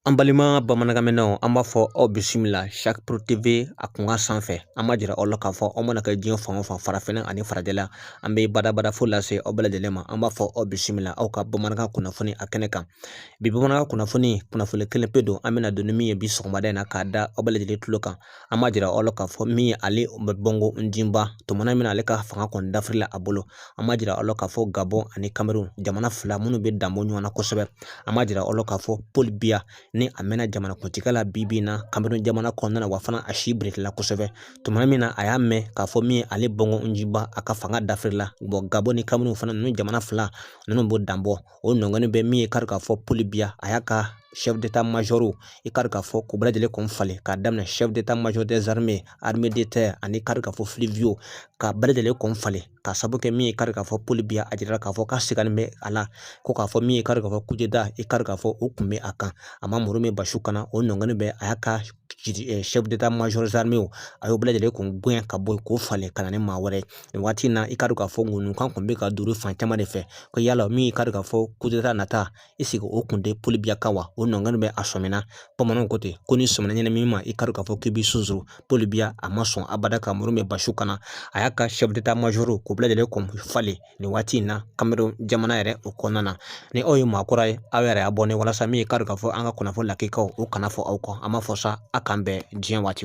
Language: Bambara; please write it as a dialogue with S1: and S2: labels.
S1: An balima bamanankanmɛnanw an b'a fɔ aw bisimila Sac Pro TV a kunkan sanfɛ an b'a jira aw la k'a fɔ aw mana kɛ diɲɛ fan o fan farafinna ani farajɛla an bɛ badabada fo lase aw bɛɛ lajɛlen ma an b'a fɔ aw bisimila aw ka bamanankan kunnafoni a kɛnɛ kan bi bamanankan kunnafoni kunnafoni kelen pe don an bɛna don ni min ye bi sɔgɔmada in na k'a da aw bɛɛ lajɛlen tulo kan an b'a jira aw la k'a fɔ min ye Ali Ben Bongo Ondimba tuma na min ale ka fanga kɔni dafirila a bolo an b'a jira aw la k'a fɔ Gabon ani Cameroun jamana fila minnu bɛ danbɔ ɲɔgɔn na kosɛbɛ an b'a jira aw la k'a fɔ Paul Biya ni a mɛnna jamanakuntigiya la bi bi in na Cameroun jamana kɔnɔna na wa fana a si birikila kosɛbɛ tuma min na a y'a mɛn k'a fɔ min ye Ali Bongo Ondimba a ka fanga dafirila bon Gabon ni Cameroun fana ninnu jamana fila ninnu b'o danbɔ o nɔgɔnin bɛ min ye kari k'a fɔ Paul Biya a y'a ka chef d'état major i kari k'a fɔ k'u bɛɛ lajɛlen kun falen k'a daminɛ chef d'état major des armées armée de terre ani kari k'a fɔ fluviaux k'u bɛɛ lajɛlen kun falen ka sabu kɛ min ye kari k'a fɔ Paul Biya a jirala k'a fɔ k'a siganin bɛ a la ko k'a fɔ min ye kari k'a fɔ kudeta i kari k'a fɔ o kun bɛ a kan a ma muru min basi kana o nɔgɔnin bɛ a y'a ka chef d'état major des armées a y'o bɛɛ lajɛlen kun gɛn ka bɔ yen k'o falen ka na ni maa wɛrɛ ye nin waati in na i k'a dɔn k'a fɔ ŋunukan kun bɛ ka duuru fan caman de fɛ ko yala min k'a dɔn k'a fɔ kudeta eseke o kun tɛ Paul Biya kan wa o nɔgɔnin bɛ a sɔmina bamananw ko ten ko ni sɔmina ɲɛnamini ma i k'a dɔn k'a fɔ k'i b'i sonsoro Paul Biya a ma sɔn abada ka muru min basi kana a y'a ka chef d'état major k'u bɛɛ lajɛlen kun falen nin waati in na Cameroun jamana yɛrɛ o kɔnɔna na ni aw ye maa kura ye aw yɛrɛ abonner walasa min k'a dɔn k'a fɔ an ka kunnafoni lakikaw o kana fɔ aw kɔ an b'a fɔ sa a k'an bɛn diɲɛ waati